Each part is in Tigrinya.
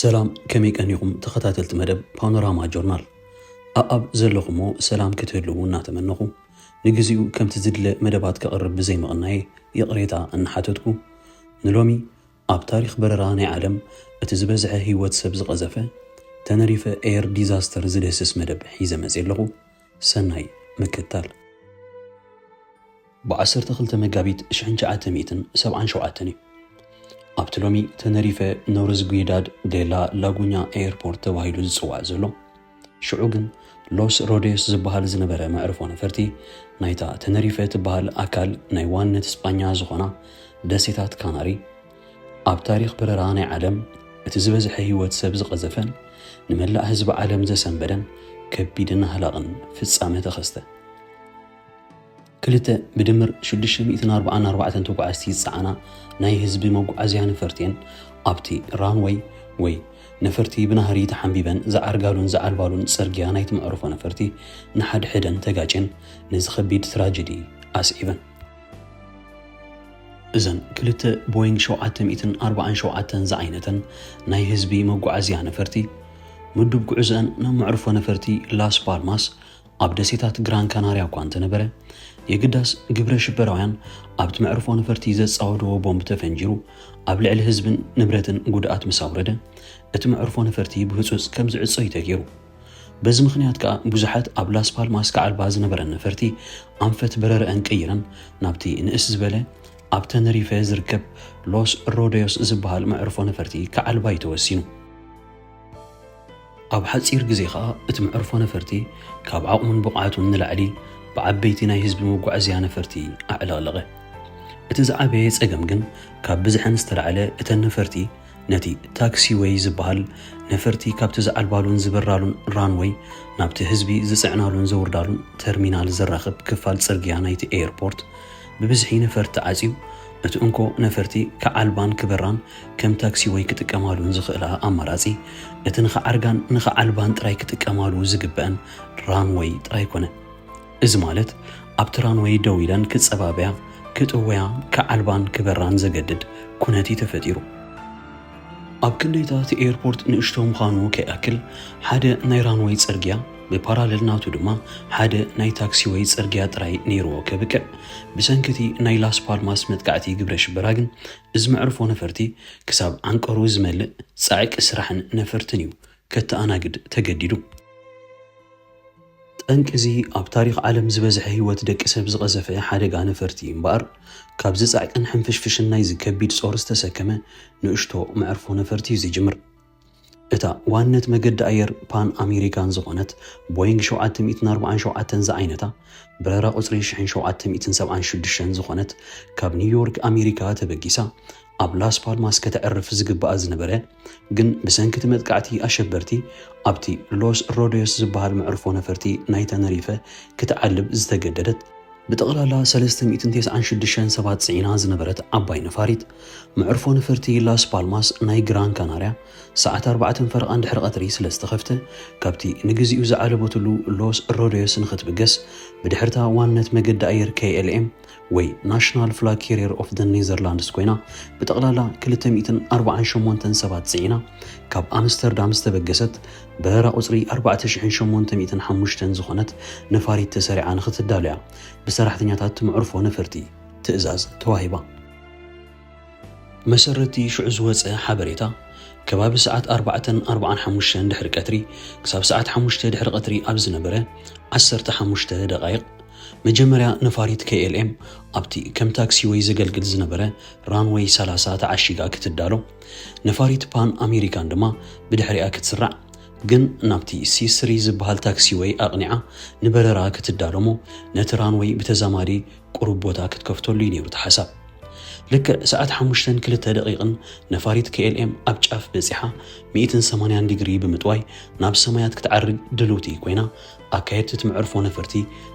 ሰላም ከመይ ቀኒኹም ተኸታተልቲ መደብ ፓኖራማ ጆርናል ኣኣብ ዘለኹሞ ሰላም ክትህልዉ እናተመነኹ ንግዚኡ ከምቲ ዝድለ መደባት ከቕርብ ብዘይምቕናየ ይቕሬታ እናሓተትኩ ንሎሚ ኣብ ታሪኽ በረራ ናይ ዓለም እቲ ዝበዝሐ ህይወት ሰብ ዝቐዘፈ ተነሪፈ ኤር ዲዛስተር ዝድህስስ መደብ ሒዘ መፅየ ኣለኹ ሰናይ ምክታል ብ ዓሰርተ ክልተ መጋቢት ሽሕን ትሽዓተ ሚእትን ሰብዓን ሸውዓተን እዩ ኣብቲ ሎሚ ተነሪፈ ኖርዝጉይዳድ ዴላ ላጉኛ ኤየርፖርት ተባሂሉ ዝጽዋዕ ዘሎ ሽዑ ግን ሎስ ሮዴስ ዝበሃል ዝነበረ መዕርፎ ነፈርቲ ናይታ ተነሪፈ ትበሃል ኣካል ናይ ዋንነት ስጳኛ ዝኾና ደሴታት ካናሪ ኣብ ታሪኽ በረራ ናይ ዓለም እቲ ዝበዝሐ ህይወት ሰብ ዝቐዘፈን ንመላእ ህዝቢ ዓለም ዘሰንበደን ከቢድን ኣህላቕን ፍጻመ ተኸስተ። ክልተ ብድምር ሽዱሽተ ሚእትን ኣርብዓን ኣርባዕተን ተጓዓዝቲ ዝጸዓና ናይ ህዝቢ መጓዓዝያ ነፈርቲ'የን ኣብቲ ራንወይ ወይ ነፈርቲ ብናህሪ ተሓምቢበን ዝዓርጋሉን ዝዓልባሉን ጽርግያ ናይቲ መዕርፎ ነፈርቲ ንሓድሕደን ተጋጭየን ነዚ ከቢድ ትራጀዲ ኣስዒበን። እዘን ክልተ ቦይንግ ሸውዓተ ሚእትን ኣርብዓን ሸውዓተን ዝዓይነተን ናይ ህዝቢ መጓዓዝያ ነፈርቲ ምዱብ ጉዕዘኣን ናብ መዕርፎ ነፈርቲ ላስ ፓልማስ ኣብ ደሴታት ግራን ካናርያ እኳ እንተነበረ፣ የግዳስ ግብረ ሽበራውያን ኣብቲ መዕርፎ ነፈርቲ ዘጻወድዎ ቦምብ ተፈንጂሩ ኣብ ልዕሊ ህዝብን ንብረትን ጉድኣት ምስ ኣውረደ፣ እቲ መዕርፎ ነፈርቲ ብህጹጽ ከም ዝዕጾ እዩ ተገይሩ። በዚ ምኽንያት ከኣ ብዙሓት ኣብ ላስ ፓልማስ ክዓልባ ዝነበረን ነፈርቲ ኣንፈት በረረኣን ቀይረን ናብቲ ንእስ ዝበለ ኣብ ተነሪፈ ዝርከብ ሎስ ሮደዮስ ዝበሃል መዕርፎ ነፈርቲ ክዓልባ እዩ ተወሲኑ። ኣብ ሓጺር ግዜ ከኣ እቲ መዕርፎ ነፈርቲ ካብ ዓቕሙን ብቕዓቱን ንላዕሊ ብዓበይቲ ናይ ህዝቢ መጓዕዝያ ነፈርቲ ኣዕለቕለቐ። እቲ ዝዓበየ ጸገም ግን ካብ ብዝሐን ዝተላዕለ እተን ነፈርቲ ነቲ ታክሲ ዌይ ዝበሃል ነፈርቲ ካብቲ ዝዓልባሉን ዝበራሉን ራንወይ ናብቲ ህዝቢ ዝጽዕናሉን ዘውርዳሉን ተርሚናል ዘራኽብ ክፋል ጽርግያ ናይቲ ኤየርፖርት ብብዝሒ ነፈርቲ ዓጽዩ፣ እቲ እንኮ ነፈርቲ ክዓልባን ክበራን ከም ታክሲ ወይ ክጥቀማሉ ንዝኽእላ ኣማራጺ፣ እቲ ንኽዓርጋን ንኽዓልባን ጥራይ ክጥቀማሉ ዝግበኣን ራንወይ ጥራይ ኮነ። እዚ ማለት ኣብቲ ራንወይ ደው ኢለን ክጸባበያ፣ ክጥወያ፣ ክዓልባን ክበራን ዘገድድ ኩነት እዩ ተፈጢሩ። ኣብ ክንደይታ እቲ ኤርፖርት ንእሽቶ ምዃኑ ከይኣክል ሓደ ናይ ራንወይ ጽርግያ ብፓራለል ናቱ ድማ ሓደ ናይ ታክሲወይ ጽርግያ ጥራይ ነይርዎ ከብቅዕ ብሰንኪ እቲ ናይ ላስ ፓልማስ መጥቃዕቲ ግብረ ሽበራ ግን እዚ መዕርፎ ነፈርቲ ክሳብ ዓንቀሩ ዝመልእ ጻዕቂ ስራሕን ነፈርትን እዩ ከተኣናግድ ተገዲዱ። ጠንቂ እዚ ኣብ ታሪኽ ዓለም ዝበዝሐ ህይወት ደቂ ሰብ ዝቐዘፈ ሓደጋ ነፈርቲ እዩ እምበኣር፣ ካብዚ ጻዕቅን ሕንፍሽፍሽን ናይዚ ከቢድ ጾር ዝተሰከመ ንእሽቶ መዕርፎ ነፈርቲ እዩ ዝጅምር። እታ ዋንነት መገዲ ኣየር ፓን ኣሜሪካን ዝኾነት ቦይንግ ሸውዓተ ሚእትን ኣርብዓን ሸውዓተን ዝዓይነታ በረራ ቁጽሪ ሽሕን ሸውዓተ ሚእትን ሰብዓን ሽዱሽተን ዝኾነት ካብ ኒውዮርክ ኣሜሪካ ተበጊሳ ኣብ ላስ ፓልማስ ከተዕርፍ ዝግብኣ ዝነበረ ግን ብሰንኪ እቲ መጥቃዕቲ ኣሸበርቲ ኣብቲ ሎስ ሮደዮስ ዝበሃል መዕርፎ ነፈርቲ ናይ ተነሪፈ ክትዓልብ ዝተገደደት ብጠቕላላ ሰለስተ ሚእትን ተስዓን ሽዱሽተን ሰባት ጽዒና ዝነበረት ዓባይ ነፋሪት መዕርፎ ነፈርቲ ላስ ፓልማስ ናይ ግራን ካናርያ ሰዓት ኣርባዕተን ፈረቓን ድሕሪ ቐትሪ ስለ ዝተኸፍተ ካብቲ ንግዚኡ ዝዓለበትሉ ሎስ ሮደዮስ ንኽትብገስ ብድሕርታ ዋንነት መገዲ ኣየር KLM ወይ ናሽናል ፍላግ ኬሪየር ኦፍ ዘ ኔዘርላንድስ ኮይና ብጠቕላላ 248 ሰባት ጽዒና ካብ ኣምስተርዳም ዝተበገሰት በረራ ቁጽሪ 4805 ዝኾነት ነፋሪት ተሰሪዓ ንኽትዳሎያ ብሰራሕተኛታት መዕርፎ ነፈርቲ ትእዛዝ ተዋሂባ። ብመሰረት'ቲ ሽዑ ዝወጸ ሓበሬታ፣ ከባቢ ሰዓት ኣርባዕተን ኣርብዓን ሓሙሽተን ድሕሪ ቀትሪ ክሳብ ሰዓት ሓሙሽተ ድሕሪ ቀትሪ ኣብ ዝነበረ ዓሰርተ ሓሙሽተ ደቓይቕ፣ መጀመርያ ነፋሪት KLM ኣብቲ ከም ታክሲወይ ዘገልግል ዝነበረ ራንወይ ሰላሳ ተዓሺጋ ክትዳሎ፣ ነፋሪት ፓን ኣሜሪካን ድማ ብድሕሪኣ ክትስራዕ ግን ናብቲ ሲ ስሪ ዝበሃል ታክሲወይ ኣቕኒዓ ንበረራ ክትዳሎ'ሞ ነቲ ራንወይ ብተዛማዲ ቁሩብ ቦታ ክትከፍተሉ እዩ ነይሩ እቲ ሓሳብ። ልክዕ ሰዓት ሓሙሽተን ክልተ ደቒቕን ነፋሪት KLM ኣብ ጫፍ በጺሓ ሚእትን ሰማንያን ዲግሪ ብምጥዋይ ናብ ሰማያት ክትዓርግ ድልውቲ ኮይና ኣካየድቲ እቲ መዕርፎ ነፈርቲ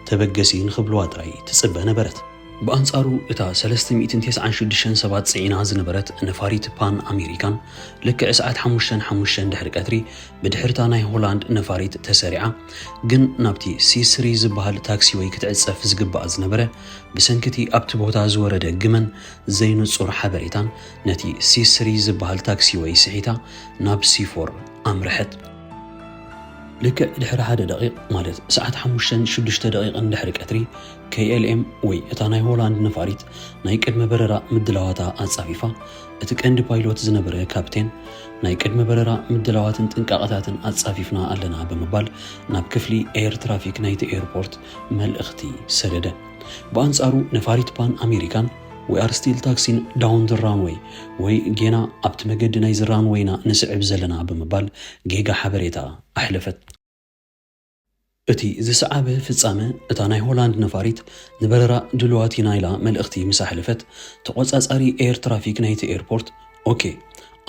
ተበገሲ ንኽብልዋ ጥራይ ትጽበ ነበረት። ብኣንጻሩ እታ ሰለስተ ሚእትን ተስዓን ሽዱሽተን ሰባት ጽዒና ዝነበረት ነፋሪት ፓን ኣሜሪካን ልክዕ ሰዓት ሓሙሽተን ሓሙሽተን ድሕሪ ቀትሪ ብድሕርታ ናይ ሆላንድ ነፋሪት ተሰሪዓ ግን ናብቲ ሲስሪ ዝበሃል ታክሲ ወይ ክትዕጸፍ ዝግባኣ ዝነበረ ብሰንኪ እቲ ኣብቲ ቦታ ዝወረደ ግመን ዘይንጹር ሓበሬታን ነቲ ሲስሪ ዝበሃል ታክሲ ወይ ስሒታ ናብ ሲፎር ኣምርሐት። ልክዕ ድሕሪ ሓደ ደቂቕ ማለት ሰዓት ሓሙሽተን ሽዱሽተ ደቂቕን ድሕሪ ቀትሪ KLM ወይ እታ ናይ ሆላንድ ነፋሪት ናይ ቅድመ በረራ ምድላዋታ ኣጻፊፋ እቲ ቀንዲ ፓይሎት ዝነበረ ካፕቴን፣ ናይ ቅድመ በረራ ምድላዋትን ጥንቃቐታትን ኣጻፊፍና ኣለና ብምባል ናብ ክፍሊ ኤየር ትራፊክ ናይቲ ኤርፖርት መልእኽቲ ሰደደ። ብኣንጻሩ ነፋሪት ፓን ኣሜሪካን ዊ ኣር ስቲል ታክሲን ዳውን ዘ ራንወይ ወይ ጌና ኣብቲ መገዲ ናይዚ ራንወይ ኢና ንስዕብ ዘለና ብምባል ጌጋ ሓበሬታ ኣሕለፈት። እቲ ዝሰዓበ ፍጻመ፣ እታ ናይ ሆላንድ ነፋሪት ንበረራ ድሉዋት ኢና ኢላ መልእኽቲ ምስ ኣሕለፈት፣ ተቖጻጻሪ ኤየር ትራፊክ ናይቲ ኤርፖርት፣ ኦኬ፣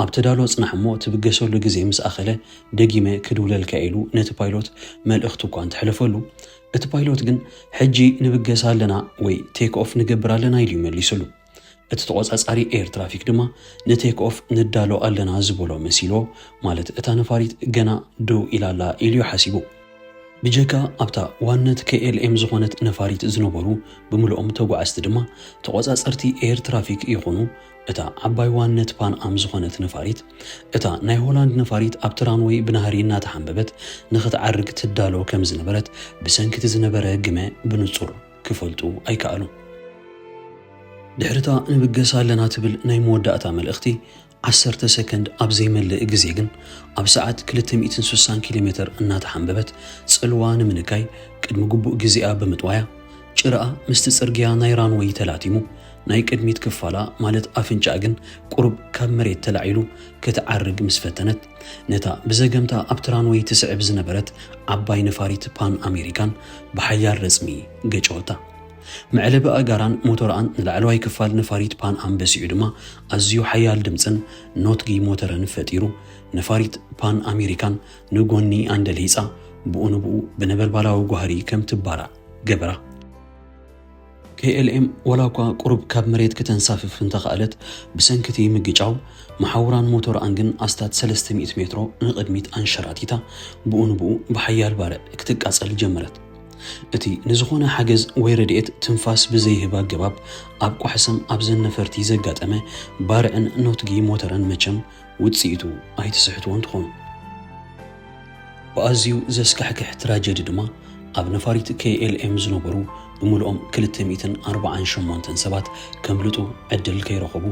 ኣብ ተዳሎ ጽናሕ እሞ ትብገሰሉ ግዜ ምስ ኣኸለ ደጊመ ክድውለልካ'የ ኢሉ ነቲ ፓይሎት መልእኽቱ እኳ እንተሕለፈሉ፣ እቲ ፓይሎት ግን ሕጂ ንብገስ ኣለና ወይ ቴክ ኦፍ ንገብር ኣለና ኢሉ'ዩ መሊሱሉ። እቲ ተቖጻጻሪ ኤር ትራፊክ ድማ ንቴክ ኦፍ ንዳሎ ኣለና ዝበሎ መሲልዎ፣ ማለት እታ ነፋሪት ገና ደው ኢላ ኣላ ኢሉ'ዩ ሓሲቡ። ብጀካ ኣብታ ዋነት KLM ዝኾነት ነፋሪት ዝነበሩ ብምልኦም ተጓዓዝቲ ድማ፣ ተቖጻጸርቲ ኤር ትራፊክ ይኹኑ እታ ዓባይ ዋነት ፓን ኣም ዝኾነት ነፋሪት፣ እታ ናይ ሆላንድ ነፋሪት ኣብቲ ራንወይ ብናህሪ እናተሓምበበት ንኽትዓርግ ትዳሎ ከምዝነበረት ብሰንኪ'ቲ ዝነበረ ግመ ብንጹር ክፈልጡ ኣይከኣሉን። ድሕሪታ ንብገስ ኣለና ትብል ናይ መወዳእታ መልእኽቲ ዓሰርተ ሰከንድ ኣብ ዘይመልእ ግዜ ግን ኣብ ሰዓት ክልተ ሚእትን ስሳን ኪሎ ሜተር እናተሓንበበት ጽልዋ ንምንካይ ቅድሚ ግቡእ ግዜኣ ብምጥዋያ ጭራኣ ምስቲ ጽርግያ ናይ ራንወይ ተላቲሙ ናይ ቅድሚት ክፋላ ማለት ኣፍንጫኣ ግን ቁሩብ ካብ መሬት ተላዒሉ ክትዓርግ ምስ ፈተነት ነታ ብዘገምታ ኣብቲ ራንወይ ትስዕብ ዝነበረት ዓባይ ነፋሪት ፓን ኣሜሪካን ብሓያል ረጽሚ ገጨወታ። መዕለቢ ኣእጋራን ሞተርኣን ንላዕለዋይ ክፋል ነፋሪት ፓን ኣም በሲዑ ድማ ኣዝዩ ሓያል ድምፅን ኖትጊ ሞተርን ፈጢሩ ነፋሪት ፓን ኣሜሪካን ንጎኒ ኣንደልሂፃ ብኡ ንብኡ ብነበልባላዊ ጓህሪ ከም ትባራዕ ገበራ። KLM ዋላኳ ቁሩብ ካብ መሬት ክተንሳፍፍ እንተኸኣለት፣ ብሰንኪ እቲ ምግጫው፣ መሓውራን ሞቶርኣን ግን ኣስታት ሰለስተ ሚእቲ ሜትሮ ንቕድሚት ኣንሸራቲታ፣ ብኡ ንብኡ ብሓያል ባርዕ ክትቃጸል ጀመረት። እቲ ንዝኾነ ሓገዝ ወይ ረድኤት ትንፋስ ብዘይህብ ኣገባብ ኣብ ቋሕ ሰም ኣብዘን ነፈርቲ ዘጋጠመ ባርዕን ኖትጊ ሞተረን መቸም ውጽኢቱ ኣይትስሕትዎን ትኾኑ። ብኣዝዩ ዘስካሕክሕ ትራጀዲ ድማ ኣብ ነፋሪት KLM ዝነበሩ ብምልኦም ክልተ ሚእትን ኣርብዓን ሸሞንተን ሰባት ከምልጡ ዕድል ከይረኸቡ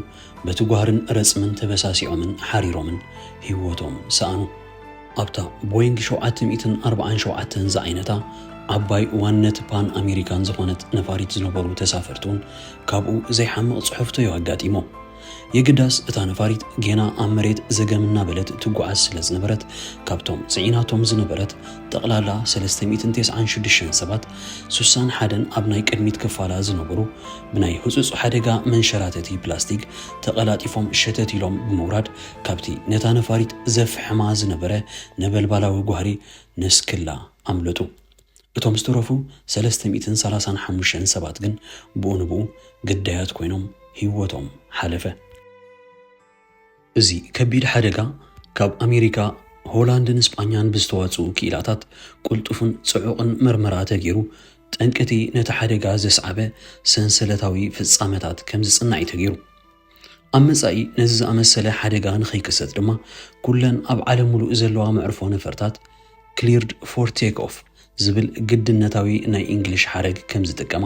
በቲ ጓህርን ረጽምን ተበሳሲዖምን ሓሪሮምን ህይወቶም ሰኣኑ። ኣብታ ቦይንግ ሸውዓተ ሚእትን ኣርብዓን ሸውዓተን ዝዓይነታ ዓባይ እዋን ነቲ ፓን ኣሜሪካን ዝኾነት ነፋሪት ዝነበሩ ተሳፈርቲ'ውን ካብኡ ዘይሓምቕ ጽሑፍቶ'ዩ ኣጋጢሞም። የግዳስ እታ ነፋሪት ጌና ኣብ መሬት ዘገም እናበለት ትጓዓዝ ስለ ዝነበረት ካብቶም ጽዒናቶም ዝነበረት ጠቕላላ ሰለስተ ሚእትን ቴስዓን ሽዱሽተን ሰባት ሱሳን ሓደን ኣብ ናይ ቅድሚት ክፋላ ዝነበሩ ብናይ ህጹጽ ሓደጋ መንሸራተቲ ፕላስቲክ ተቐላጢፎም ሸተት ኢሎም ብምውራድ ካብቲ ነታ ነፋሪት ዘፍሕማ ዝነበረ ነበልባላዊ ጓህሪ ነስክላ ኣምለጡ። እቶም ዝተረፉ ሰለስተ ሚእትን ሰላሳን ሓሙሽተን ሰባት ግን ብኡ ንብኡ ግዳያት ኮይኖም ህይወቶም ሓለፈ። እዚ ከቢድ ሓደጋ ካብ ኣሜሪካ፣ ሆላንድን ስጳኛን ብዝተዋጽኡ ክኢላታት ቅልጡፍን ጽዑቕን መርመራ ተገይሩ፣ ጠንቂ'ቲ ነቲ ሓደጋ ዘስዓበ ሰንሰለታዊ ፍጻመታት ከም ዝጽናዕ'ዩ ተገይሩ። ኣብ መጻኢ ነዚ ዝኣመሰለ ሓደጋ ንኸይክሰት ድማ ኩለን ኣብ ዓለም ሙሉእ ዘለዋ መዕርፎ ነፈርታት ክሊርድ ፎር ቴክ ኦፍ ዝብል ግድነታዊ ናይ እንግሊሽ ሓረግ ከም ዝጥቀማ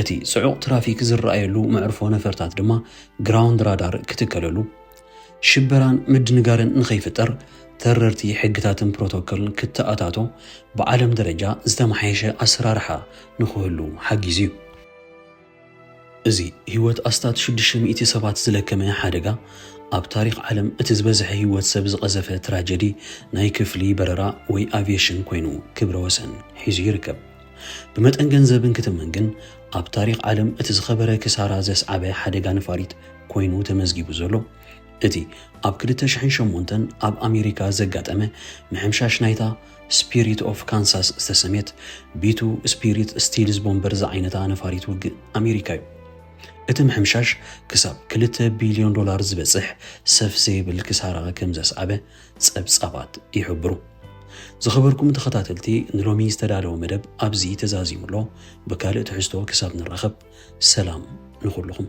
እቲ ጽዑቕ ትራፊክ ዝረኣየሉ መዕርፎ ነፈርታት ድማ ግራውንድ ራዳር ክትከለሉ ሽበራን ምድንጋርን ንኸይፍጠር ተረርቲ ሕግታትን ፕሮቶኮልን ክተኣታቶ ብዓለም ደረጃ ዝተመሓየሸ ኣሰራርሓ ንክህሉ ሓጊዙ እዩ። እዚ ህይወት ኣስታት ሽዱሽተ ሚእቲ ሰባት ዝለከመ ሓደጋ፣ ኣብ ታሪኽ ዓለም እቲ ዝበዝሐ ህይወት ሰብ ዝቐዘፈ ትራጀዲ ናይ ክፍሊ በረራ ወይ ኣቪየሽን ኮይኑ ክብረ ወሰን ሒዙ ይርከብ። ብመጠን ገንዘብ እንክትመን ግን ኣብ ታሪኽ ዓለም እቲ ዝኸበረ ክሳራ ዘስዓበ ሓደጋ ነፋሪት ኮይኑ ተመዝጊቡ ዘሎ እቲ ኣብ ክልተ ሽሕን ሸሞንተን ኣብ ኣሜሪካ ዘጋጠመ ምሕምሻሽ ናይታ ስፒሪት ኦፍ ካንሳስ ዝተሰምየት ቢቱ ስፒሪት ስቲልዝ ቦምበር ዝዓይነታ ነፋሪት ውግእ ኣሜሪካ እዩ። እቲ ምሕምሻሽ ክሳብ ክልተ ቢልዮን ዶላር ዝበጽሕ ሰፍ ዘይብል ክሳራ ከም ዘስዓበ ጸብጻባት ይሕብሩ። ዝኸበርኩም ተኸታተልቲ ንሎሚ ዝተዳለወ መደብ ኣብዚ ተዛዚሙ ኣሎ። ብካልእ ትሕዝቶ ክሳብ ንራኸብ ሰላም ንኹልኹም።